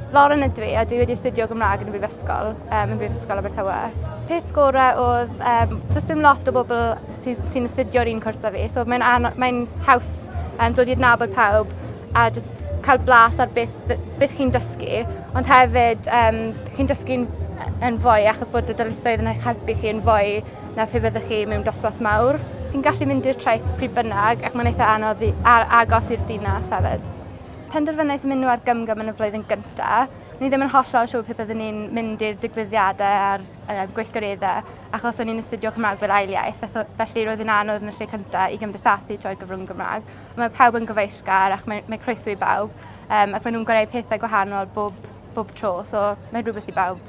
Lauren ydw i a dwi wedi astudio Gymraeg yn y Brifysgol, um, yn Brifysgol Abertawe. Peth gorau oedd, um, does dim lot o bobl sy'n sy astudio'r un cwrs â fi, so mae'n mae haws um, dod i adnabod pawb a just cael blas ar beth, beth chi'n dysgu, ond hefyd um, chi'n dysgu'n yn fwy achos bod y dylithoedd yn eich helpu chi yn fwy na phe byddwch chi mewn dosbarth mawr. Chi'n gallu mynd i'r traeth pryd bynnag ac mae'n eitha anodd i, ar, agos i'r dinas hefyd. Penderfynais mynd nhw ar gymgym yn y flwyddyn gyntaf. Ni ddim yn hollol siŵr pe byddwn ni'n mynd i'r digwyddiadau a'r uh, gweithgareddau, achos o'n i'n astudio Cymraeg fel ail iaith, felly roedd yn anodd yn y lle cyntaf i gymdeithasu trwy'r gyfrwng Gymraeg. Mae pawb yn gyfeillgar ac mae, mae croeso i bawb, um, ac maen nhw'n gwneud pethau gwahanol bob, bob tro, so mae'n rhywbeth i bawb.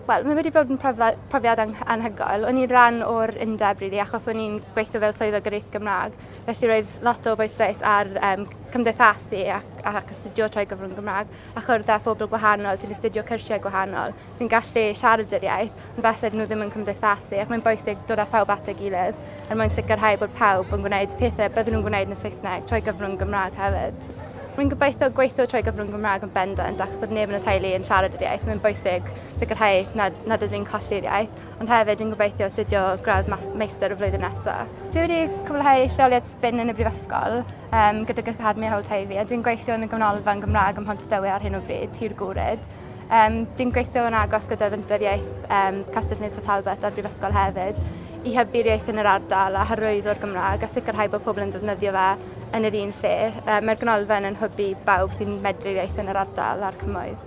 Wel, mae wedi bod yn profiad anhygoel. O'n i'n rhan o'r undeb, really, achos o'n i'n gweithio fel swyddog gyrraeth Gymraeg. Felly roedd lot o bwysais ar um, cymdeithasu ac, ac astudio trwy gyfrwng Gymraeg a chwrdd â phobl gwahanol sy'n astudio cyrsiau gwahanol sy'n gallu siarad yr iaith ond falle nhw ddim yn cymdeithasu ac mae'n bwysig dod â phawb at ei gilydd er mwyn sicrhau bod pawb yn gwneud pethau byddwn nhw'n gwneud yn y Saesneg trwy gyfrwng Gymraeg hefyd. Rwy'n gobeithio gweithio trwy gyfrwng Gymraeg yn bendant ac bod neb yn y teulu yn siarad yr iaith. Mae'n bwysig sicrhau nad, nad ydyn ni'n colli'r iaith. ond hefyd yn gobeithio astudio gradd meistr y flwyddyn nesaf. Dwi wedi cwblhau lleoliad spin yn y Brifysgol um, gydag Academi Hawl Teifi a dwi'n gweithio yn y Gymnolfa yn Gymraeg ym Mhontdewi ar hyn o bryd, Tir Gwred. Um, dwi'n gweithio yn agos gyda Fenter Iaith um, Castell-nedd Port Talbot a'r Brifysgol hefyd i hybu'r iaith yn yr ardal a hyrwyddo'r Gymraeg a sicrhau bod pobl yn defnyddio fe yn yr un lle. Um, Mae'r Gynolfa yn hybu bawb sy'n medru iaith yn yr ardal a'r cymoedd.